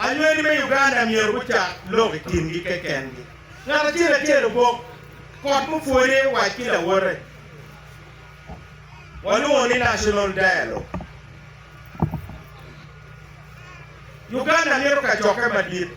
Anywegi me Uganda myero gucak lok i kingi kekengi. Ngat acel acel obok kot mupwode wac ki lawote. Walwongo ni National Dialogue. Uganda mito kacokke madit.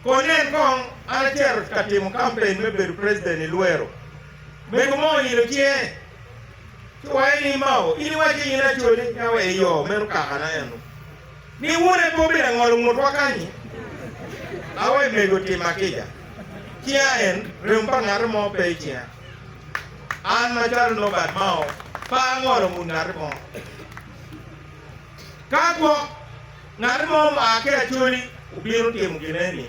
Ko nen kong an acito ka timo kampen me bedo president i Luero, mego mo oilo cinge. Ci wacce ni, Mao, in iwacci ni in acwali, ka wek iyo, meno kakana eno. Ni wun en pe obedo angolo ngutwa kany-nyi? Awe mego timma kica. Cinga en, remo pa ngati mo pe i cinga. An macalo Norbert Mao, pe angolo ngut ngati mo. Ka gwok ngati mo ma oa ki acwali obino timo gin eni,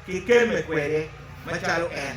kikemme kwede macalo en.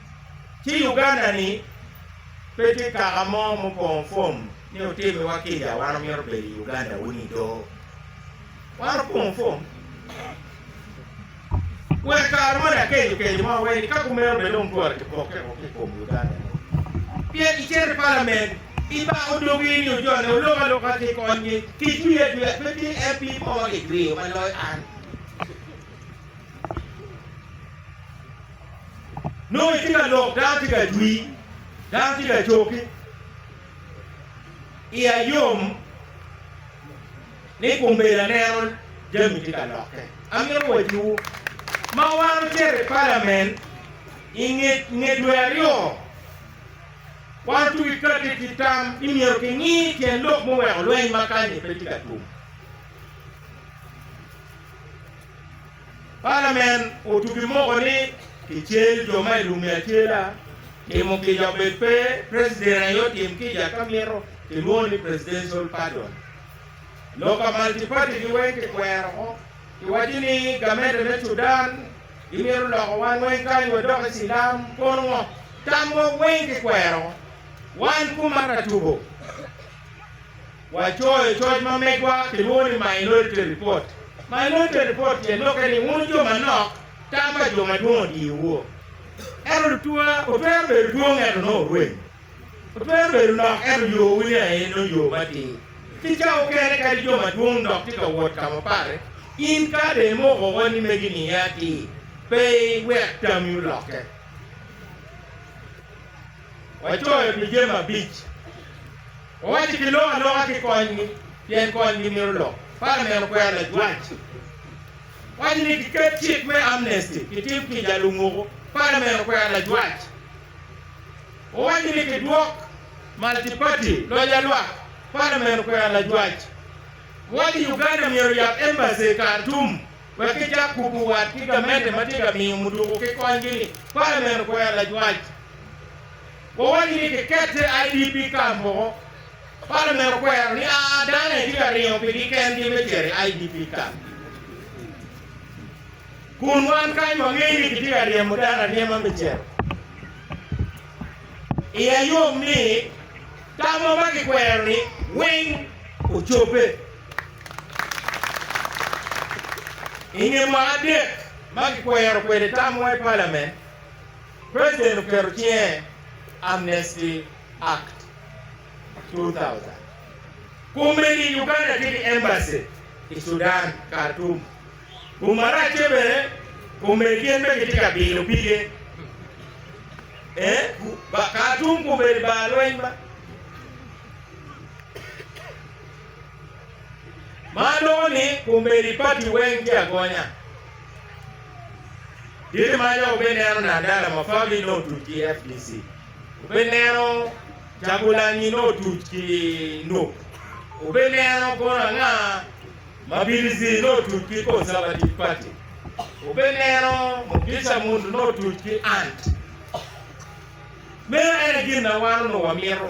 ci Uganda-ni pe tye kaka mo mupongo fom ni otimiwa kica, wan omito bedo i Uganda wun i doo. Wan opongo fom. Wek kare moni akeco keco mo aweni ka kumeno bene dong twara kipokke woko ki kom Uganda-ni. Pien icito i palament, ibako dogi ni ojone olok aloka ci ikonygi, kitwii atwiya, pe tye MP mo ma kitweyo ma loyo an. Nongo itye ka lok, dano tye ka jwi, dano tye ka coki. Iya yom ni kombeddi aneno jami tye ka lokke. Amito wacciwu, ma wan ocito i palamen i nge dwe aryo, wan ocung ki kati ki tam ni myero kingi tyen lok muweko lweny ma kany-ni pe tye ka tum. Palamen otugi moko ni kicel jo ma i lumi acela, timo kica obed pe preciden aye otim kica ka mito kilwongo ni presidential pardon. Loka multiparty gi weng kikwero ko kiwaco ni gamente me Sudan gimito loko wan weng kany wadoki silam kono ngo? Tamwa weng kikwero ko wan kuma ratubo. Wacoyo coc ma megwa kilwongo ni Minority Report. Minority Report tyen lokke ni wun jo manok, tam pa jo madwong odiyowu. Ento lutwa, wutwero bedo dwong ento nongo wurem. Wutwero bedo nok ento yowu ni aye nongo yo matir. Ki ca mukene kadi jo madwong dok tye ka wot ka ma pare, in ka dong imoko woko ni megi niye atir, pe iwek tammi olokke. Wacoyo pi jami abic. Owaco ki lok aloka ki konygi pien konygi mito lok. Palamen okwero lajwac waco ni giket cik me amnesty kitim kica a lumuku. Palamen okwero lajwac owaco ni kidwok Multi Party loc a lwak. Palamen okwero lajwac owaco ni Uganda myero oyab Embassy i Khartoum wek kicak kuku wat ki gamente ma tye ka miyo muduku ki konygi ni. Palamen okwero lajwac. Wawaco ni kikette IDP camp woko, Parliament okwero ni a dano aye tye ka ringo pi gi kengi me cito i IDP camp gi. Kun wan kany wangeyo ni kitye ka ryemo dano aryema me cito. Iya yom ni tamwa ma kikwero ni weng ocobbe. Inge mwaka adek ma kikwero kwede tamwa i Parliament, President oketo cinge Amnesty Act 2000. Kun meni Uganda tye ki Embassy i Sudan, Khartoum. Kun marac tye bene, kun meni gin bene gitye ka bino pige eh, Khartoum kun meni bar lweny ma. Ma nongo ni kun meni party weng tye agonya. Tye ma dok obe neno Nandala Mafagi nongo otuc ki fdc, obe neno Kyagulanyi nongo otuc ki Nup, obe neno kono anga Mabirizi nongo otuc ki Conservative Party, obe neno Mugisha Muntu nongo otuc ki ant. Meno en aye gin na wan onongo wamito.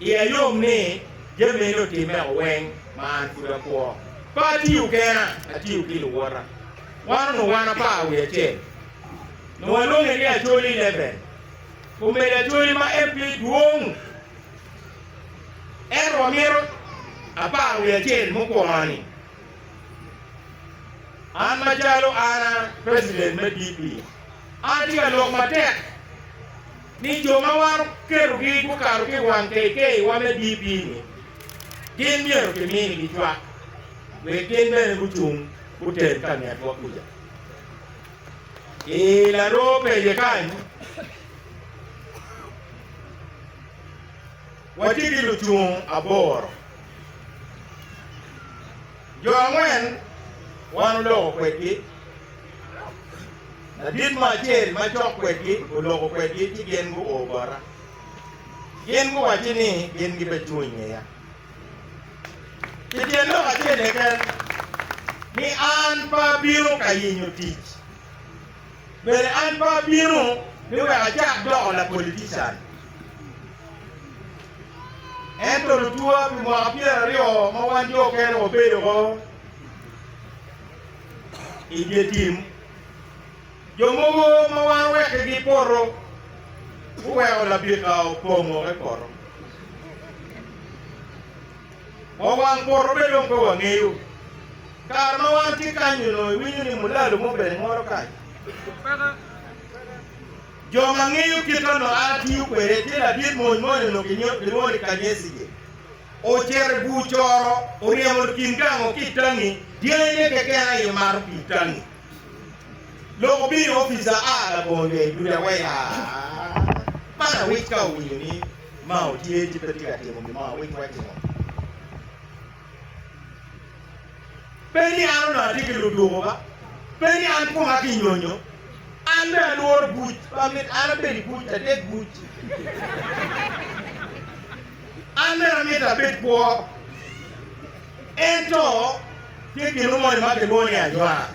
Iya yom ni jami meno otimmea weng ma an pud akwo. Pe atiyo kena, atiyo ki luwota. Wan onongo wan apar wiye acel. Onongo walwonge ni Acholi Leven. Kombeddi Acholi ma en pe dwong, ento wamito apar wiye acel mukwongo-ni. An macalo an a president me DP, an atye ka lok matek. ni jo ma wan oketogi gukato ki i wang keikeyiwa me DP-ni, gin myero kiminigi cwak wek gin bene gucung gutel ka ngetwa kuca. I laroo peye kany, watye ki lucung aboro. Jo angwen wan oloko kwedgi. Ladit mo acel macok kwedgi oloko kwedgi ci gin guo bota. Gin guwacci ni gin gibecung i ngeya. Pi tyen lok acel keken ni an pe abino ka yenyo tic. Bene an pe abino ni wek acak doko lapolitican. Ento lutwa pi mwaka pyeraryo ma wan jo okene wabedo woko i dye tim, jo mogo ma wan owekkigi i poto guweko labika opong woko i poto. Wa wang poto be dong pe wangeyo. Kare ma wan tye kany-nyu onongo iwinyo ni mulalu mo bene ngolo kany. Jo ma ngeyo kit onongo a tiyo kwede tye ladit mony mo ni onongo kilwongo ni Kanyesige. Ocito i bur coro, oryemo kin gango ki i tangi dyangine keken aye omato pii tangi. Lok obino i opic a a labongo lweny dudi aweya. Man awic ka owinyo ni Mao tye ci pe tye ka timo gin mo, awic wacce ngo? Pe ni an onongo atye ki ludwogo ba, pe ni an koma kinyonyo, an bene alworo buc ma mit an abed i buc, atek buc. An bene amito abed kwo. Ento tye gino moni ma kilwongo ni ajwang.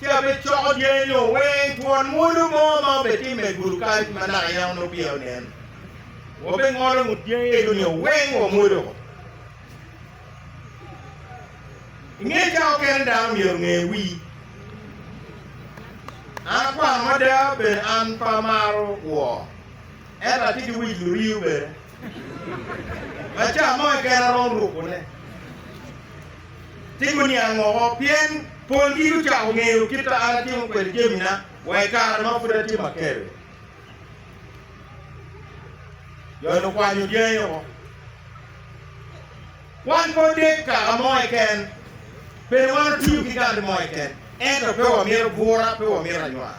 ci abecoko dyangi nio weng twon mwodo mo ma obetimme i gudu kany ma naka yamo nongo peya onen. Wabengolo ngut dyangi ego nio weng wamwodo woko. I nge cawa kene dano myero onge wi. An akwano mada bene an pe amaro woo, ento atye ki wic luriyo bene ma ca mo keken aromo ruko ne. Timo niang woko, pien polgi gucako ngeyo kit a an atimo kwede jamina wa i kare ma pud atye maker-ri. Jon okwanyo dyangi woko. Wan pe odek kaka mo keken, bene wan otiyo ki gati mo keken, ento pe wamito bwura, pe wamito anywar.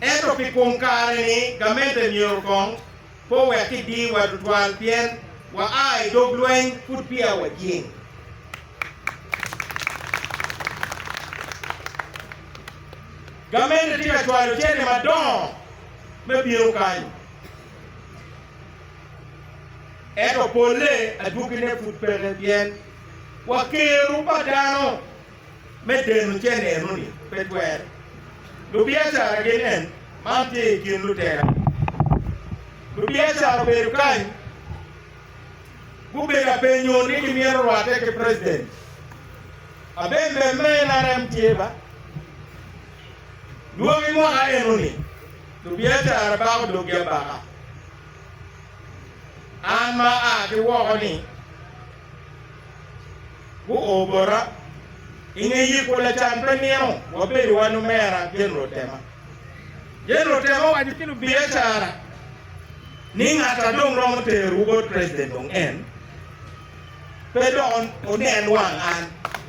Ento pi kom kare-ni gamente myero kong pe owek kidiyowa tutwal pien waa i dog lweny pud peya wajing. Gamente tye ka cwalo cente madongo me bino kany, ento polle adwogine pud peke pien wakero pa dano. me deno ce neno ni pe twere. Lubiacara gin en man tye i kin lutera ni lubiacara obedo kany gubedo apenyo ni ki myero rwate ki president abembem me nrm tye ba lwongi mwaka eno ni lubiacara bako dog gi abaka an ma a ki woko ni Guo bota. I nge yiko lacan pe nino, wabedo wan omera General Tema. General Tema owaco ki lubiacara ni ngat a dong romo terowu bot President dong en, pe dok onen wang an.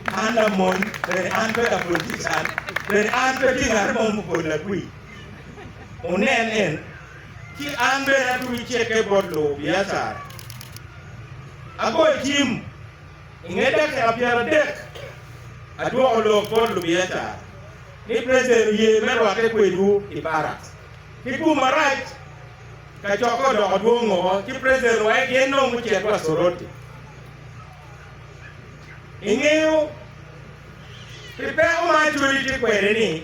An lamony, bene an pe lapolitican, bene an pe tye ngat mo ma opo lagwi. Onen en, ci an bene atwero ceke bot lubiacara. Agoyo cim. I nge dakika pyeradek, adwoko lok bot lubiacara ni President oye me rwatte kwedwu i Barracks. Ki tum marac, kacokke odoko dwong o ci President owaye gin dong gucit wa Soroti. Ingeyo pi peko ma Acholi tye kwede ni?